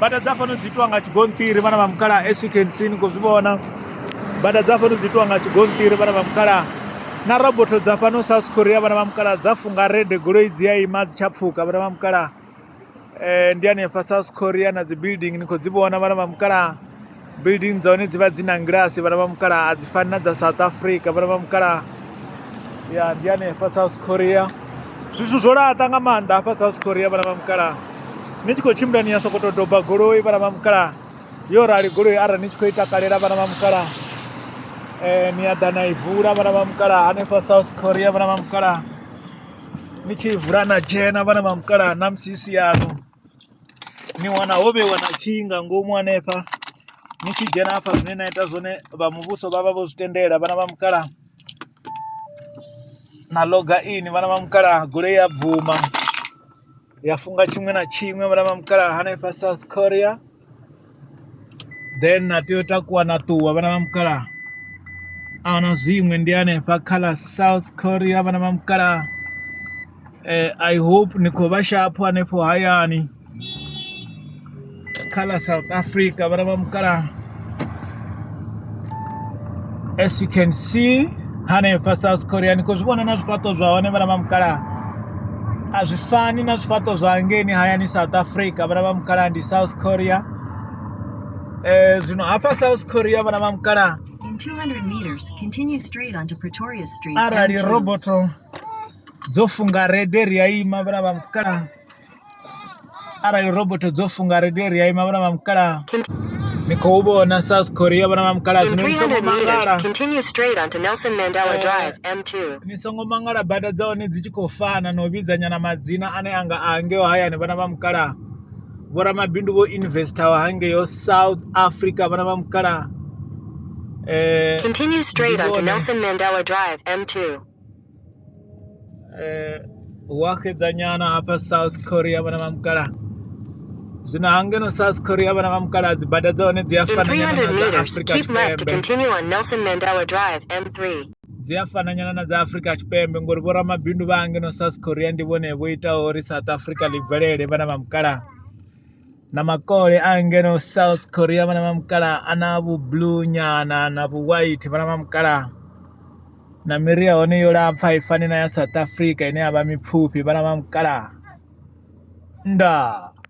bada dza fhano dzi itiwa nga tshigonṱiri vhana vha mukala as you can see ni khou zwi vhona bada dza fhano dzi itiwa nga tshigonṱiri vhana vha mukala na roboto dza fhano south korea vhana vha mukala dza funga rede goloi dzi a ima dzi tsha pfuka vhana vha mukala um ndi hanefha south korea na dzi building ni khou dzi vhona vhana vha mukala building dza hone dzi vha dzi na ngilasi vhana vha mukalaha a dzi fani na dza south africa vhana vha mukalaha ya ndi hanefha south korea zwithu zwo laṱa nga maanḓa hafha south korea vhana vha mukalaha ni tshi khou tshimbila ni ya sokoto doba goloi vhana vha mukalaha yo rali goloi arali ni tshi khou i takalela vhana vha mukalaha um ni a ḓa na i vula vhana vha mukalaha hanefha south korea vhana vha mukalaha ni tshi i vula na dzhena vhana vha mukalaha na musi i si yanu ni wana ho vheiwa na khiyi nga ngomu hanefha ni tshi dzhena hafha zwine na ita zwone vha muvhuso vha vha vho zwi tendela vhana vha mukalaha na loga ini vhana vha mukalaha goloi ya bvuma ya funga tshiṅwe na tshiṅwe vhana vha mukalaha hanefha South Korea. then na tea u takuwa na ṱuwa vhana vha mukalaha a na zwiṅwe ndi hanefha kha ḽa south korea vhana vha mukalaha eh, i hope ni khou vha shapho hanefho hayani kha ḽa south africa vhana vha mukalaha as you can see hanefha south korea ni khou zwi vhona na zwifhaṱo zwa hone vhana vha mukalaha a zwi fani na zwifhaṱo zwa ngeni hayani south africa vhana vha mukalaha ndi south korea um zwino hafha south korea vhana vha mukalaha In 200 meters, continue straight onto Pretoria Street. arali M2. roboto dzo funga rede ri a ima vhana vha mukalaha arali robot dzo funga ri tea ri ya ima vhona vha mukalaha ni khou vhona south korea vhona vha mukalaha zwino ni songo mangala ni songo mangala bada dza hone dzi tshi khou fana na u vhidza nyana madzina ane anga a hangeo hayani vhona vha mukalaha vhoramabindu vho investor hangeo south africa vhona vha mukalaha eh, Continue straight onto Nelson Mandela Drive, M2. eh, wake dza nyana hafha south korea vhana vha mukala zwino hangeno south korea vhana vha mukala dzi bada dza hone dzi a fana nyana na dza afrika tshipembe dzi a fana nyana na dza afrika tshipembe ngori vho ramabindu vha hangeno south korea ndi vhone vho itaho uri south africa ḽi bvelele vhana vha mukala na makole a ngeno south korea vhana vha mukala a na vhublue nyana na vhuwhite vhana vha mukala na miri ya hone yo lapfa i fani na ya South Africa ine ya vha mipfufhi vhana vha mukalaha ndaa.